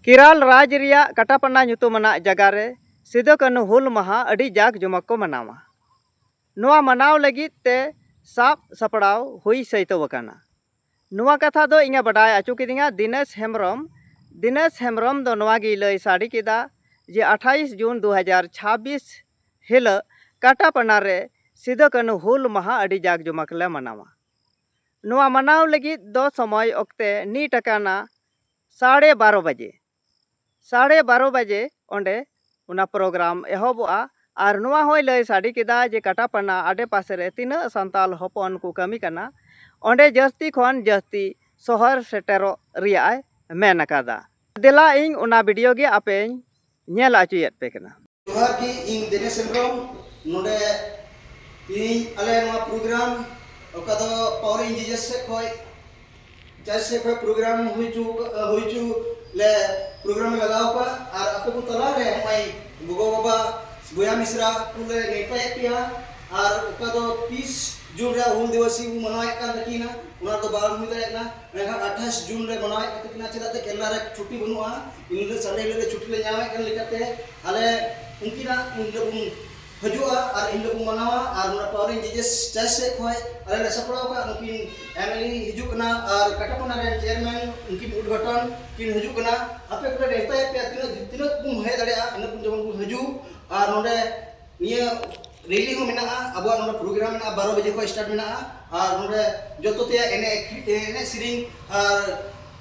ᱠᱮᱨᱟᱞ ᱨᱟᱡᱽ ᱨᱮᱭᱟᱜ ᱠᱟᱴᱟᱯᱟᱱᱟ ᱧᱩᱛᱩᱢ ᱟᱱᱟᱜ ᱡᱟᱜᱟ ᱨᱮ ᱥᱤᱫᱚ ᱠᱟᱹᱱᱦᱩ ᱦᱩᱞ ᱢᱟᱦᱟ ᱟᱹᱰᱤ ᱡᱟᱠ ᱡᱚᱢᱚᱠ ᱠᱚ ᱢᱟᱱᱟᱣᱟ᱾ ᱱᱚᱣᱟ ᱢᱟᱱᱟᱣ ᱞᱟᱹᱜᱤᱫ ᱛᱮ ᱥᱟᱵ ᱥᱟᱯᱲᱟᱣ ᱦᱩᱭ ᱥᱟᱹᱭᱛᱟᱹᱣ ᱟᱠᱟᱱᱟ᱾ ᱱᱚᱣᱟ ᱠᱟᱛᱷᱟ ᱫᱚ ᱤᱧᱮ ᱵᱟᱰᱟᱭ ᱟᱪᱚ ᱠᱤᱫᱤᱧᱟ ᱫᱤᱱᱮᱥ ᱦᱮᱢᱵᱽᱨᱚᱢ᱾ ᱫᱤᱱᱮᱥ ᱦᱮᱢᱵᱽᱨᱚᱢ ᱫᱚ ᱱᱚᱣᱟ ᱜᱮᱭ ᱞᱟᱹᱭ ᱥᱟᱰᱮ ᱠᱮᱫᱟ ᱡᱮ ᱟᱴᱷᱟᱭᱤᱥ ᱡᱩᱱ ᱫᱩ ᱦᱟᱡᱟᱨ ᱪᱷᱟᱵᱽᱵᱤᱥ ᱦᱤᱞᱟᱹᱜ ᱠᱟᱴᱟᱯᱟᱱᱟ ᱨᱮ ᱥᱤᱫᱚ ᱠᱟᱹᱱᱦᱩ ᱦᱩᱞ ᱢᱟᱦᱟ ᱟᱹᱰᱤ ᱡᱟᱠ ᱡᱚᱢᱚᱠ ᱞᱮ ᱢᱟᱱᱟᱣᱟ᱾ ᱱᱚᱣᱟ ᱢᱟᱱᱟᱣ ᱞᱟᱹᱜᱤᱫ ᱫᱚ ᱥᱚᱢᱚᱭ ᱚᱠᱛᱮ ᱱᱤᱴ ᱟᱠᱟᱱᱟ᱾ ᱥᱟᱲᱮ ᱵᱟᱨᱚ ᱵᱟᱡᱮ ᱥᱟᱲᱮ ᱵᱟᱨᱚ ᱵᱟᱡᱮ ᱚᱸᱰᱮ ᱚᱱᱟ ᱯᱨᱳᱜᱨᱟᱢ ᱮᱦᱚᱵᱚᱜᱼᱟ ᱟᱨ ᱱᱚᱣᱟ ᱦᱚᱸᱭ ᱞᱟᱹᱭ ᱥᱟᱰᱮ ᱠᱮᱫᱟ ᱡᱮ ᱠᱟᱴᱟᱯᱟᱱᱟ ᱟᱰᱮ ᱯᱟᱥᱮ ᱨᱮ ᱛᱤᱱᱟᱹᱜ ᱥᱟᱱᱛᱟᱲ ᱦᱚᱯᱚᱱ ᱠᱚ ᱠᱟᱹᱢᱤ ᱠᱟᱱᱟ ᱚᱸᱰᱮ ᱡᱟᱹᱥᱛᱤ ᱠᱷᱚᱱ ᱡᱟᱹᱥᱛᱤ ᱥᱚᱦᱚᱨ ᱥᱮᱴᱮᱨᱚᱜ ᱨᱮᱭᱟᱜ ᱮ ᱢᱮᱱ ᱟᱠᱟᱫᱟ ᱫᱮᱞᱟ ᱤᱧ ᱚᱱᱟ ᱵᱷᱤᱰᱤᱭᱳ ᱜᱮ ᱟᱯᱮᱧ ᱧᱮᱞ ᱚᱪᱚᱭᱮᱫ ᱯᱮ ᱠᱟᱱᱟ ᱡᱚᱦᱟᱨ ᱜᱮ ᱤᱧ ᱫᱮᱱᱮᱥ ᱦᱮᱢᱵᱨᱚᱢ ᱱᱚᱰᱮ ᱛᱮᱦᱮᱧ ᱟᱞᱮ ᱱᱚᱣᱟ ᱯᱨᱳᱜᱨᱟᱢ ᱚᱠᱟ ᱫᱚ ᱯᱟᱣᱟᱨ ᱤᱱᱡᱤᱱᱤᱭᱟᱨ ᱥᱮᱫ ᱠᱷᱚᱱ ᱪᱟᱨᱡᱽ ᱥᱮᱫ ᱠᱷᱚᱱ ᱯᱨᱳᱜᱨᱟᱢ ᱦᱩᱭ ᱦᱚᱪᱚ ᱦᱩᱭ ᱦᱚᱪᱚ ᱞᱮ ᱯᱨᱳᱜᱨᱟᱢ ᱞᱮ ᱞᱟᱜᱟᱣ ᱟᱠᱟᱫᱼᱟ ᱟᱨ ᱟᱯᱮ ᱠᱚ ᱛᱟᱞᱟ ᱨᱮ ᱱᱚᱜᱼᱚᱭ ᱜᱚᱜᱚ ᱵᱟᱵᱟ ᱵᱚᱭᱦᱟ ᱢᱤᱥᱨᱟ ᱠᱚ ᱞᱮ ᱱᱮᱣᱛᱟᱭᱮᱫ ᱯᱮᱭᱟ ᱟᱨ ᱚᱠᱟ ᱫᱚ ᱛᱤᱥ ᱡᱩᱱ ᱨᱮ ᱦᱩᱞ ᱫᱤᱵᱚᱥ ᱵᱚ ᱢᱟᱱᱟᱣᱮᱫ ᱠᱟᱱ ᱛᱟᱹᱠᱤᱱᱟ ᱚᱱᱟ ᱫᱚ ᱵᱟᱝ ᱦᱩᱭ ᱫᱟᱲᱮᱭᱟᱜ ᱠᱟᱱᱟ ᱢᱮᱱᱠᱷᱟᱱ ᱟᱴᱷᱟᱥ ᱡᱩᱱ ᱨᱮ ᱢᱟᱱᱟᱣᱮᱫ ᱠᱟᱱ ᱛᱟᱹᱠᱤᱱᱟ ᱪᱮᱫᱟᱜ ᱥᱮ ᱠᱮᱨᱞᱟ ᱨᱮ ᱪᱷᱩᱴᱤ ᱵᱟᱹᱱᱩᱜᱼᱟ ᱤᱱᱦᱤᱞᱚᱜ ᱥᱟᱱᱰᱮ ᱦᱤᱞᱚᱜ ᱜᱮ ᱪᱷᱩᱴᱤ ᱞᱮ ᱧᱟᱢᱮᱫ ᱠᱟᱱ ᱞᱮᱠᱟᱛᱮ ᱟᱞᱮ ᱩᱱᱠᱤᱱᱟᱜ ᱤᱱᱦᱤᱞᱚᱜ ᱵᱚᱱ ᱦᱤᱡᱩᱜᱼᱟ ᱟᱨ ᱤᱱᱦᱤᱞᱚᱜ ᱵᱚᱱ ᱢᱟᱱᱟᱣᱟ ᱟᱨ ᱱᱚᱰᱮ ᱯᱟᱣᱨᱤ ᱡᱮᱡᱮᱥ ᱪᱟᱨᱪ ᱥᱮᱫ ᱠᱷᱚᱱ ᱟᱞᱮ ᱞᱮ ᱥᱟᱯᱲᱟᱣ ᱟᱠᱟᱫ ᱱᱩᱠᱤᱱ ᱮᱢᱮᱞᱮ ᱦᱤᱡᱩᱜ ᱠᱟᱱᱟ ᱟᱨ ᱠᱟᱴᱟᱯᱚᱱᱟ ᱨᱮᱱ ᱪᱮᱭᱟᱨᱢᱮᱱ ᱩᱱᱠᱤᱱ ᱩᱫᱽᱜᱷᱟᱴᱚᱱ ᱠᱤᱱ ᱦᱤᱡᱩᱜ ᱠᱟᱱᱟ ᱟᱯᱮ ᱠᱚᱞᱮ ᱱᱮᱣᱛᱟᱭᱮᱫ ᱯᱮᱭᱟ ᱛᱤᱱᱟᱹᱜ ᱛᱤᱱᱟᱹᱜ ᱵᱚᱱ ᱦᱮᱡ ᱫᱟᱲᱮᱭᱟᱜᱼᱟ ᱤᱱᱟᱹᱜ ᱵᱚᱱ ᱡᱮᱢᱚᱱ ᱵᱚᱱ ᱦᱤᱡᱩᱜ ᱟᱨ ᱱᱚᱰᱮ ᱱᱤᱭᱟᱹ ᱨᱮᱞᱤ ᱦᱚᱸ ᱢᱮᱱᱟᱜᱼᱟ ᱟᱵᱚᱣᱟᱜ ᱱᱚᱰᱮ ᱯᱨᱳᱜᱨᱟᱢ ᱢᱮᱱᱟᱜᱼᱟ ᱵᱟᱨᱚ ᱵᱟᱡᱮ ᱠᱷᱚᱱ ᱥᱴᱟᱨᱴ ᱢᱮᱱᱟᱜᱼᱟ ᱟᱨ ᱱᱚᱰᱮ ᱡᱚᱛᱚ ᱛᱮᱭᱟᱜ ᱮᱱᱮᱡ ᱮᱱᱮᱡ ᱥᱮᱨᱮᱧ ᱟᱨ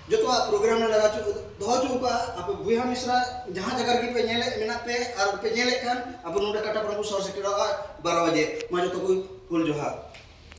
ᱡᱚᱛᱚᱣᱟᱜ ᱯᱨᱳᱜᱨᱟᱢ ᱞᱮ ᱞᱟᱜᱟᱣ ᱦᱚᱪᱚ ᱫᱚᱦᱚ ᱦᱚᱪᱚ ᱠᱟᱜᱼᱟ ᱟᱯᱮ ᱵᱚᱭᱦᱟ ᱢᱤᱥᱨᱟ ᱡᱟᱦᱟᱸ ᱡᱟᱭᱜᱟ ᱨᱮᱜᱮ ᱯᱮ ᱧᱮᱞᱮᱫ ᱢᱮᱱᱟᱜ ᱯᱮ ᱟᱨ ᱯᱮ ᱧᱮᱞᱮᱫ ᱠᱷᱟᱱ ᱟᱵᱚ ᱱᱚᱰᱮ ᱠᱟᱴᱟᱯᱟᱲᱟ ᱵᱚᱱ ᱥᱚᱦᱚᱨ ᱥᱮᱴᱮᱨᱚᱜᱼᱟ ᱵᱟᱨᱚ ᱵᱟᱡᱮ ᱢᱟ ᱡᱚᱛᱚ ᱠᱚ ᱦᱩᱞ ᱡᱚᱦᱟᱨ